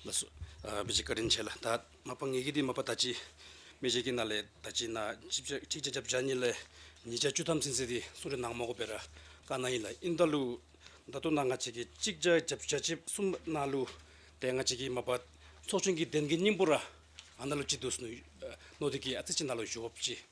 ལ་སོགས་པའི་ཕྱིར་བཀའ་དྲིན་ཆེ་ལ། ད་མ་པ་ངེད་ཀྱི་དེ་མ་པ་ད་ཅི། མི་བཞེད་ཀྱི་ན་ལས་ད་ཅི་ན། ཅིག་ཅར་བྱ་བྱ་གཉིས་ལས། ཉིས་ཆ་བཅུ་ཐམ་སིན་སི་དེ་སུ་རེ་ནང་མ་གོ་བེ་ར་ཀ་ན་ཡིན་ལ་ཨིན་ད་ལུ། ད་དུ་ན་ང་བྱེད་ཀྱི་ཅིག་ཅར་བྱ་བྱ་བྱེད་གསུམ་ན་ལུ། དེ་ང་བྱེད་ཀྱི་མ་པ། ཚོགས་ཆེན་གྱི་གདན་གྱི་སྙིང་པོ་ར་ཨ་ན་ལུ་ཅི་དུ་སུ་ནོ་དེ་ཀྱི་ཨ་ཙི་ཅི་ན་ལུ་བཞུགས་བ་བཅི།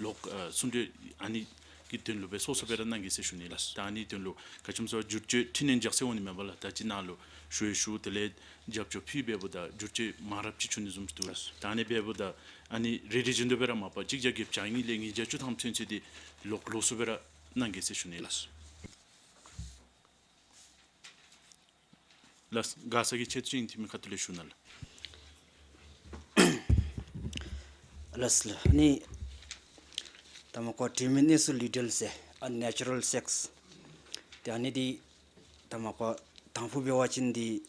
ལོག་གསུམ་འདོད་ཨ་ནི་ཀྱི་དོན་ལུགས་པས་སོ་སོ་པས་ར་གནང་གི་སེ་ཞུ་ནི་ལ་ད་ཨ་ནི་དོན་ལུགས་ག་ཆོམ་སོ་བསྒྱུར་བཅོས་ཁྲི་ནས་འཇག་སེ་འོང་ནི་མེད་པ་ལ་ད་ཅི་གནང་ལུགས་ཞུ་ཡི་ཞུ་དེ་ལས་རྒྱབ་བཅོ་ཕུའི་བེ་པོ་ད་བསྒྱུར་བཅོས་མང་རབ་ཅི་ཆུ་ནི་ཟུམ་དུ་ད་ཨ་ནི་བེ་པོ་ད་ཨ་ནི་རེ་རེ་བཞི་འདོད་པས་ར་མ་པ་གཅིག་བརྒྱ་བརྒྱད་བྱ་གཉིས་ལས་ངེས་བརྒྱ་བཅུ་ཐང་མཚོན་ཚུལ་དེ་ལོག་ལོག་སུ་པས་ར་གནང་གི་སེ་ཞུ་ནི་ལ། ལ་དགའ་ས་གི་ཁྱེད་ཅིང་ཐིག་མི་ཁ་ཐུ་ལེ་ཤུ་ན་ལ། ལ་སི་ལ་ནི་ད་མ་ཀོ་དྲི་མི་ནི་སུ་ལུས་འབྲེལ་སེ་ཨ Natural Sex དེ་ནི་དི་ད་མ་ཀོ་དང་པོ་བེ་བ་ཅིན་དི་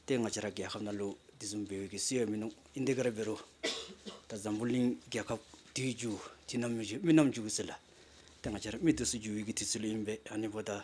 དེ་ང་ཅི་ར་རྒྱལ་ཁབ་ན་ལུ་དི་སུམ་བེ་བེ་གི་སུ་ཡ་མི་ནུ་ཨིན་དི་ག་ར་བེ་རུ་ད་འཛམ་བུ་གླིང་རྒྱལ་ཁབ་དུས་རྒྱུ་དུས་ནམ་མི་རྒྱུ་མི་ནམ་རྒྱུ་གི་སུ་ལ་དེ་ང་ཅི་ར་མི་དུ་སུ་རྒྱུ་ཡི་གི་དུས་ཚུལ་ཨིན་བེ་ཨ་ནི་བོ་ད།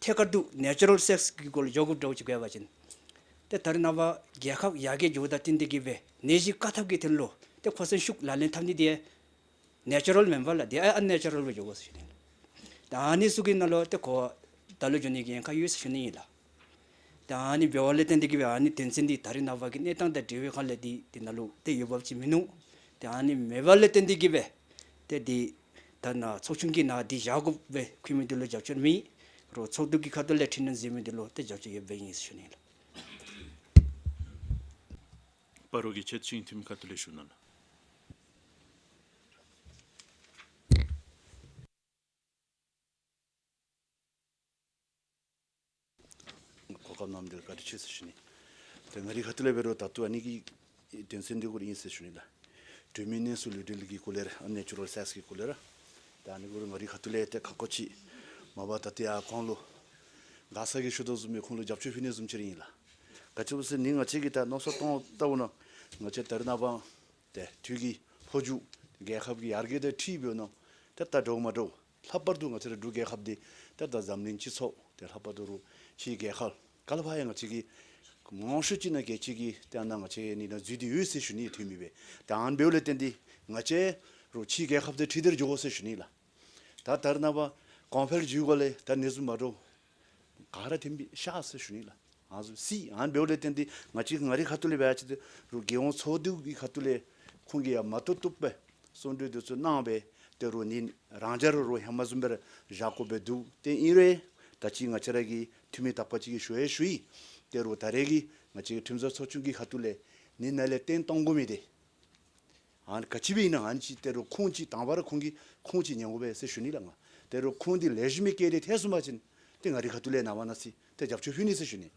ཐད་ཀར་དུ Natural Sex གི་སྐོར་ལ་ཇོ་ཁུབ་སྒྲོག་ཅིག་བཀལ་བ་བཞིན། དེ་ལྟར་རྣམ་པ་རྒྱལ་ཁབ་ཡར་རྒྱས་འགྱུར་བ་དང་བསྟུན་ཏེ་དགེ་བའི་ནད་གཞི་བཀག་ཐབས་ཀྱི་ཐད་བློ་དེ་ཁོ་སེམས་ཤུགས་ལ་ལེན་ཐབས་ནི་དེ Natural མིན་པ་ལ་དེ Unnatural བའི་ཇོ་ཁོ་སུ་ཞིག་ཡིན། དེ་ནི་སུ་གིས་ན་ལོ་དེ་ཁོ་ད་ལོ་ཇོ་ནི་གིས་ཡན་ཁ་ཡོད་སུ་ཞུ་ནི་ཡིན་ལ། དེ་ནི་བེ་བ་ལས་བསྟན་ཏེ་དགེ་བའི་ནད་དོན་ཚེ་འདི་ད་རིང་རྣམ་པ་གི་གནས་སྟངས་དང་འབྲེལ་བའི་ཁ་ལས་དེ་དེ་ན་ལོ་དེ་ཡོད་བབ་ཅིག་མིན་ནོ། དེ་ནི་མེ་བ་ལས་བསྟན་ཏེ་དགེ་བའི་དེ་དེ། ད་ནག་ཚོགས་ཆུང་གིས་ནག་འདི་བཞག་དགོས་པའི་ཁུལ་མི་འདི་ལོ་རྒྱབ་སྐྱོར་མི་ཡིན་རུང་ཚོགས་འདུ་གི་ཁ་ཏོ་ལས་ཁྲིད་ན་འཛིན་མི་འདི་ལོ་ལྟ་རྒྱབ་སྐྱོར་ཡོད་པའི་ཡིན་ཟེར་ཞུ་ནི་ལ། པ་རོ་གི་ཁྱེད་ཅིང་ཐིམ་ཁ་ཏོ་ལས་ཞུ་ནི་ལ། གོ་སྐབས་རྣམས་འདིར་བཀའ་དྲིན་ཆེ་ཞེས་ཞུ་ནས། དེ་སྔ་རི་ཁ་ཏུ་ལས་བེ་རོ་དྭ་ཏུ་ཨ་ནི་ཀི་དོན་ཚན་འདི་སྐོར་ཡིན་ཞེས་ཞུ་ནས། གྲོས་མིའི་གནས་སུ་ལུས་འབྲེལ་གྱི་སྐུ་ལས་རེ་ཨ་ནེ་ཅུ་རོལ་སེགས་ཀྱི་སྐུ་ལས་རེ་དེ་ཨ་ནི་ཀུ་རུ་ངག་རི་ཁ་ཏུ་ལས་ཏེ་ཁ་ཁོ་ཆི་མ་བ་ད་ཏི་ཨ་ཁོང་ལུ། གང་ཟག་གི་ཤུ་དོག་ཟུམ་པའི་ཁོང་ལུ་རྒྱབ་ཆོས་ཕི་ནས་ཟུམ་ཕྱིར་ཡིན་ལ། ག་ཅི་བུ་སི་ནི་ང་ཅི་གི་ད་ནོ་སོ་སྟོང་ལྟ་བུ་ན་ང་ཅི་དར་ན་བང། དེ་དུས་ཀྱི་ཕོ་རྒྱུགས་དེ་རྒྱལ་ཁབ་ཀྱི་ཡར་རྒྱས་དེ་ཁྲིའི་བོད་ནང་དེ་ལྟ་འགྲོ་གི་མ་འགྲོ། ལྷག་པར་དུ་ང་ཚོའི་འབྲུག་རྒྱལ་ཁབ་འདི་དེར་དང་འཛམ་གླིང་སྤྱི་ཚོགས་དེ་ལྷག་པར་དུ་རུ་ཤི་ཡི་རྒྱལ་ཁབ་ག་ལ་བ་ཡང་ང་ཅིག་གིས་ངོ་ཤུ་ཅིག་ན་རྒྱལ་ཅིག་གིས་དེ་ཡང་ན་ང་ཅེ་ནི་ན་རྫུས་དེ་འོས་སེ་ཞུ་ནི་ཡི་དུས་མི་བས་དང་བེའུ་ལས་བརྟེན་དེ་ང་ཅེ་རུ་ཤི་ཡི་རྒྱལ་ཁབ་དེ་ཁྲི་དེར་འཇུག་གོ་སེ་ཞུ་ནི་ལ། ད་དར་ན་བ་གོང་འཕེལ་འཇུག་གོ་ལེ་དར་ནི་རྫུས་མ་འགྲོ་ག་ར་ཐེན་པི་ཤ་སི་ཤུ་ནི་ལ་ང་སུ་སི་ཨན་བེའོ་ལེ་ཏེན་ཏི་ང་ཅི་ང་རི་ཁ་ཏུ་ལེ་བའ་ཅི་ཏི་རུ་གེ་ཨོང་ཚོ་ཏུའུ་གི་ཁ་ཏུ་ལེ་ཁོང་གི་ཡ་མ་ཏུ་ཏུག་པེ་སོ་འདྲུའི་དུ་ཚུ་ནང་བེ་ཏེ་རུ་ནི་རང་རྒྱ་རུ་རུ་ཧེ་མ་ཟུམ་པེར་ཞག་གོ་བེ་དུ་ཏེ་ཨིན་རེ་ད་ཅི་ང་ཅི་ར་གི་ཐུ་མི་ཐག་པ་ཅི་གི་ཤུ་ཧེ་ཤུ་ཡི་ཏེ་རུ་ད་རེ་གི་ང་ཅི་གི་ཁྲིམས་བཟོ་ཚོ་ཆུང་གི་ཁ་ཏུ་ལེ་ནི་ན་ལེ་ཏེན་ཏོང་གུ་མི་ཏེ། ཧན་ག་ཅི་བས་ན་ཧན་གྱིས་དེ་རུ་ཁུང་གཅིག་དང་བར་ཁུང་གིས་ཁུང་གཅིག་ཉེ་འགོ་བས་སེ་ཞུ་ནི་ལ་ང་དེ་རུ་ཁུང་དེ་ལས་ཞི་མི་སྐད་དེ་ཐེ་སུ་མ་ཅིན་དེ་ང་རི་ག་ཏུ་ལས་ན་བ་ན་སི་དེ་རྒྱབ་ཆོས་ཕུལ་ནི་སེ་ཞུ་ནི་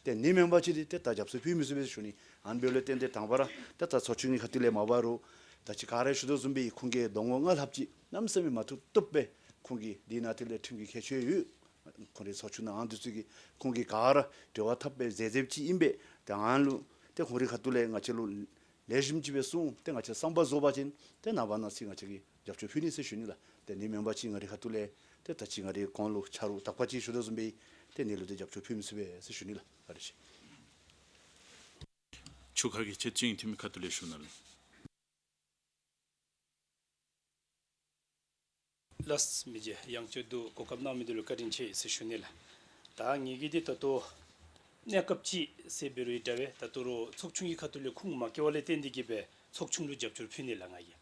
དེ་ནི་མན་བ་ཅི་དེ་དེ་ད་རྒྱབ་སོ་ཕུལ་མི་སུ་བས་སེ་ཞུ་ནི་ཧན་བེ་ལོས་བསྟན་དེ་དང་བ་ར་དེ་ད་ཚོ་ཆུ་ངི་ག་ཏུ་ལས་མ་བ་རུ་ད་ཅི་ག་རེ་ཞུ་དོ་ཟུམ་པའི་ཁུང་གི་སྡོང་བོ་ལྔ་ལྷབ་ཅིག་ནམ་སེ་མི་མ་ཐུག་ཏུབ་པས་ཁུང་གིས་དེ་ན་དེ་ལས་ཁྲིམས་ཀྱི་ཁས་ཆོས་ཡོད་ཁུང་རི་ཚོ་ཆུ་ནའང་དུས་ཚོད་ཀྱིས་ཁུང་གིས་ག་ར་བྲི་བ་ཐབ་པའི་ཟས་རྫེབ་ཅིག་ཡིན་པས་དེ་ཧན་ལུ་དེ་ཁུང་རི་ག་ཏུ་ལས་ང་ཅི་ལུ་ལས་རིམ་གྱི་བའི་གསུང་དེ་ང་ཆེ་གསང་པ་བཟོ་བ་ཅན་དེ་ནང་བ་ནང་ཚིག་ང་ཆེ་གི་རྒྱབ་ཆོས་བྷི་ནི་སི་ཞུ་ནི་ལ་དེ་ནི་མོན་པ་ཅི་ང་རི་ཁ་ཏུ་ལེ་དེ་ད་ཅི་ང་རི་གོང་ལུགས་ཆ་རུ་དག་པ་ཅི་ཞུ་ད་གཟུམ་པའི་དེ་ནི་ལུ་དེ་རྒྱབ་ཆོས་བྷི་མི་སི་བའི་སི་ཞུ་ནི་ལ་རི་ཞེས། ཆུ་ཁ་གི་ཆེ་ཅི་ངི་ཐི་མི་ཁ་ཏུ་ལེ་ཞུ་ན་ལི། ལཱས་མི་བརྗེ་གཡང་སྐྱོད་སྡུག་གོ་སྐབས་གནང་མི་འདུག་ལ་བཀའ་དྲིན་ཆེ་ཞེས་ཞུ་ནས་ལ། ད་ངེད་ཀྱིས་དེ་ལྟ་དོ། གནས་སྐབས་ཅིག་སེ་བེ་རུ་ཡི་དྲ་བས་ད་ཏུ་རོ་ཚོགས་ཆུང་གི་ཁ་ཐུ་ལི་ཁུང་མ་ཀེ་ཝ་ལའི་རྟེན་འདི་བརྒྱུད་པའི་ཚོགས་ཆུང་ལུས་རྒྱབ་སྐྱོར་ཕུལ་ནས་ལ་ང་ཡི་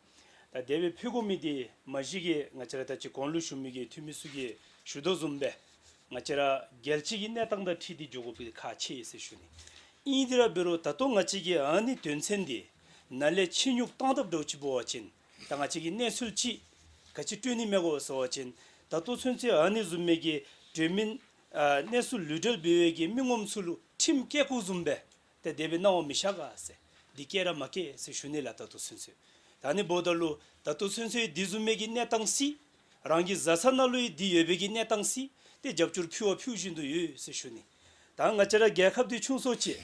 ད་སྡེ་བའི་ཕུ་གོ་མི་དེ་མ་གཞི་གི་ང་ཅི་ར་ད་ཅི་གོང་ལུས་ཞུ་མི་གི་འཐུས་མི་སུ་གི་ཞུ་དོ་བཟུམ་པས་ང་ཅི་ར་རྒྱལ་གཅེས་ཀྱི་གནས་སྟངས་དང་ཁྲིད་དེ་འཇོག་གོ་པི་ཁ་ཆེ་ཡེ་སེ་ཞུ་ནས་ཨིན་དེ་ར་བེ་རུ་ད་ཏོ་ང་ཅི་གི་ཨ་ནི་དོན་ཚན་འདི་ན་ལས་ཆེ་སྙུག་སྟངས་ཐབས་སྒྲོག་ཅི་པོ་བ་ཅིན། ད་ང་གཅིག་གི་གནས་ཚུལ་ཅིག་ག་ཅི་སྤྲོད་ནི་མེད་གོ་ཟེར་བ་བཞིན་ད་ལྟོ་ཚུན་ཚེ་ཨ་ནེ་ཟུམ་མེད་ཀྱི་བགྲོད་མི་གནས་སུ་ལུས་བྲལ་བུལ་བས་ཀྱི་མི་ངོམ་ཚུལ་ཁྲིམས་སྐད་ཁུག་ཟུམ་པས་ད་བདེ་བའི་སྣང་བ་མི་བཞག་ག་ཟེ་འདི་སྐད་ར་མ་སྐད་ཟེ་ཞུ་ནི་ལ་ད་ལྟོ་ཚུན་ཚེ་ད་ནི་བོ་ད་ལུ་ད་ལྟོ་ཚུན་ཚེ་འདི་ཟུམ་མེད་ཀྱི་གནས་སྟངས་སི་རང་གི་བཟའ་ཚ་ན་ལུ་ཡི་འདི་ཡོད་བས་ཀྱི་གནས་སྟངས་སི་ཏེ་རྒྱབ་སྐྱོར་ཕུལ་བ་ཕུལ་བཞིན་དུ་ཡོད་ཟེ་ཞུ་ནི་ད་ང་ཅི་ར་རྒྱལ་ཁབ་འདི་ཆུང་སོ་ཅེས་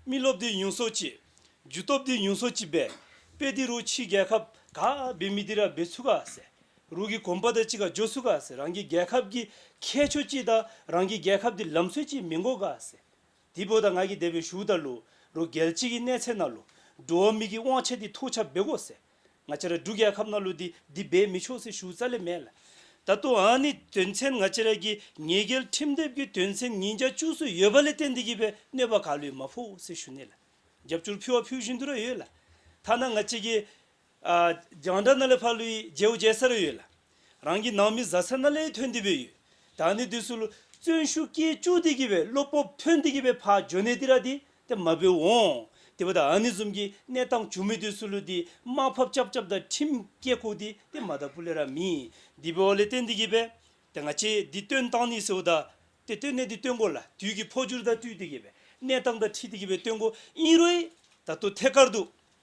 རྨི་ལོ་བདེ་ཡུན་སོ་གཅིག། རྒྱུ་སྟོབས་བདེ་ཡུན་སོ་གཅིག་པས། པེ་ཏི་རུ་ཕྱིའི་རྒྱལ་ཁབ་ག་བི་མི་ཏི་ར་བི་ཚུ་ཀ་སེ་རུ་ཀི་གོམ་པ་ད་ཅི་ཀ་ཇོ་སུ་ཀ་སེ་རང་གི་རྒྱལ་ཁབ་ཀྱི་ཁྱད་ཆོས་ཀྱིས་དང་རང་གི་རྒྱལ་ཁབ་དེ་ལམ་སྲོལ་ཀྱིས་མི་འགོ་ཀ་སེ་དི་པོ་ད་ང་ཀི་དེ་བི་ཞུ་ད་ལུ་རུ་རྒལ་ཅི་ཀི་གནས་ཚད་ན་ལུ་འགྲུ་བ་མི་ཀི་དབང་ཆ་དི་ཐུག་ཆ་བི་གོ་སེ། ང་ཅི་ར་འབྲུག་རྒྱལ་ཁབ་ན་ལོ་འདི་འདི་སྦས་མི་ཆོག་སེ་ཞུ་རྩ་ལེ་མེད་ལ། ད་དུ་འང་ནི་དོན་ཚན་ང་ཅི་ར་གི་ཉེས་རྒྱལ་ཁྲིམས་དེབ་ཀྱི་དོན་ཚན་ཉིན་གྱ་བཅུ་སུ་ཡོད་པ་ལེ་བསྟན་འདི་གི་བའི་གནོད་པ་ག་ལོས་མ་ཕོ་སེ་ཞུ་ནེ་ལ། རྒྱབ་སྐྱོར་ཕུལ་བ་ཕུལ་བཞིན་དུ་ར་ཡོད་ལ། ཐ་ན་ང་ཅི་གི། རྒྱང་འདྲ་ན་ལེ་ཕ་ལུའི་རྗེའུ་རྒྱལ་ས་ར་ཡོད་ལ། རང་གི་ནང་མི་བཟའ་ཚར་ན་ལས་ཐོན་འདི་བོད་ཡོད་ད་ནི་འདི་སུ། བཙོན་ཤུགས་སྐྱེལ་བཅུག་འདི་གི་བའི་བློ་སྤོབས་ཐོན་འདི་གི་བའི་ཕ་ཇོ་ནེ་ཏི་ར་འདི་ད་མ་བོས་འོང་འདི་བ་ད་ཨ་ནི་འཛོམས་གི་གནས་སྟངས་བྱུང་མི་འདི་སུ་ལུ་འདི་དམག་ཕབ་ཅབ་ཅབ་ད་ཁྲིམས་སྐྱེལ་ཁུག་འདི་ད་མ་ད་བུ་ལེ་ར་མི་འདི་བའོ་ལེ་ཏེ་འདི་གི་བའི་ད་ང་ཆེ་འདི་སྟོན་སྟངས་ནི་སེའུ་ད་དེ་སྟོན་གནས་འདི་སྟོན་གོ་ལ་དུས་གི་ཕོ་ཅུར་ད་སྤྲུལ་འདི་གི་བའི་གནས་སྟངས་ད་ཁྲི་འདི་གི་བའི་སྟོན་གོ་ཨིན་རོ་ཨི་ད་དུ་ཐད་ཀར་འདུག་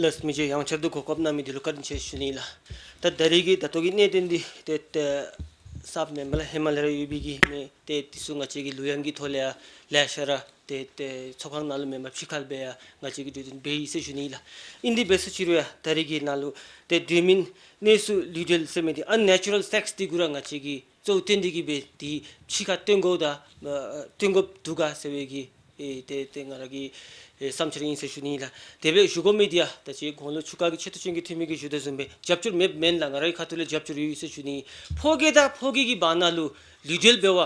ལ་སྨིན་བྱེད་ཡང་ཕྱིར་སྡུད་གོ་སྐབས་རྣམ་སྨིན་དེ་ལུགས་ཀར་འབྱིན་བྱེད་ཞུ་ནུས་ལ། ད་ལྟ་རིགས་ཀྱི་དར་ཐུག་གི་གནས་དེ་འདི་ལྟའི་སྟབས་ནས་མི་ལ་ཧི་མ་ལ་ཡར་ཡོད་པའི་གི་མེ་དེ་དུས་སུ་ང་བྱེད་ཀྱི་ལུས་ཡང་གི་ཐོ་ལེ་ཡ་ལས་ཤ་ར་དེ་ཚོགས་ཁང་ནང་ལུས་མེ་མ་ཕྱི་ཁ་ལ་སྦས་ཡ་ང་བྱེད་ཀྱི་འགྲོས་དེ་འབའི་ཡིད་སེ་ཞུ་ནུས་ལ། ཨིན་དི་བེ་སུ་ཕྱིར་ཡ་ད་རིགས་ཀྱི་ནང་ལུས་དེ་བསྡུས་མིན་གནས་སུ་ལུས་བྲལ་སེ་མེ་དེ unnatural sex དེ་དགུ་ར་ང་བྱེད་ཀྱི་གཙོ་བོ་དེ་འདི་གི་བས་དེའི་ཕྱི་ཁ་སྟོན་གོ་ད་སྟོན་གོ་བསྡུ་ག་ཟེར་བས་ཀྱི་དེ་དེ་ང་ར་གི་བསམ་འཆར་ཡིན་ཟེར་ཞུ་ནི་ཡིན་ལ་དེ་བས་ཞུ་གོ་མེད་དེ་ཡ་ད་ཅེས་དགུང་ལོ་ཆུ་ཀ་གི་ཆེད་དུ་སྤྱོན་གི་ཐུ་མི་གི་ཞུ་ད་བཟུང་བས་རྒྱབ་སྐྱོར་མེད་མེད་ལ་ང་ར་གི་ཁ་ཐུ་ལས་རྒྱབ་སྐྱོར་ཡོད་ཡོད་ཟེར་ཞུ་ནི་ཡིན་ཕོ་སྐད་ད་ཕོ་སྐད་གི་བ་ན་ལུ་ལུས་འབྲེལ་བས་བ་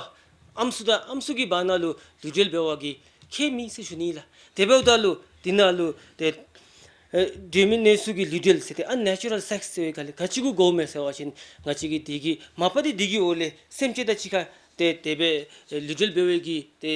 ཨམ་སུ་ད་ཨམ་སུ་གི་བ་ན་ལུ་ལུས་འབྲེལ་བས་བ་གི་ཁྱད་མིན་ཟེར་ཞུ་ནི་ཡིན་ལ་དེ་བས་བ་ད་ལུ་དེ་ན་ལུ་དེ། སྦྲུལ་མི་གནས་ཚུལ་གྱི་ལུས་འབྲེལ་ཟེར་ཏེ Unnatural Sex ཟེར་བའི་ག་ལས་ག་གཅིག་གུ་གོ་མེད་ཟེར་བ་བཞིན་ང་གཅིག་གིས་དེ་གི་མ་པ་དེ་དེ་གི་འོ་ལས་སེམས་སྐྱེ་ད་ཅི་ཁ་དེ་དད་པས་ལུས་འབྲེལ་འབེལ་བའི་གི་དེ་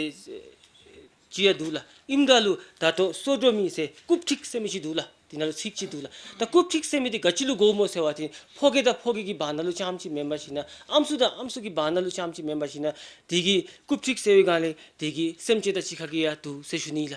ཅི་ཡ་འདུག་ལ་ཨིམ་འདྲ་ལུ་ད་དོ་སོ་སྒྲོ་མི་ཟེར་རྐུབ་ཁྲིག་སེ་མི་ཅི་འདུག་ལ་དེ་འདྲ་ལུ་ཚིག་ཅི་འདུག་ལ་ད་རྐུབ་ཁྲིག་སེ་མི་དེ་ག་ཅི་ལུ་གོ་མོ་ཟེར་བ་བཞིན་ཕོ་གེ་ད་ཕོ་གེ་གི་བ་ན་ལུ་ཅམ་ཅི་མེན་པ་བཞིན་ན་ཨམ་སུ་ད་ཨམ་སུ་གི་བ་ན་ལུ་ཅམ་ཅི་མེན་པ་བཞིན་ན་དེ་གི་རྐུབ་ཁྲིག་སེ་བའི་གང་ལས་དེ་གི་སེམས་སྐྱེ་ད་ཅི་ཁ་གི་ཡ་འདུག་ཟེར་ཞུ་ནི་ལ།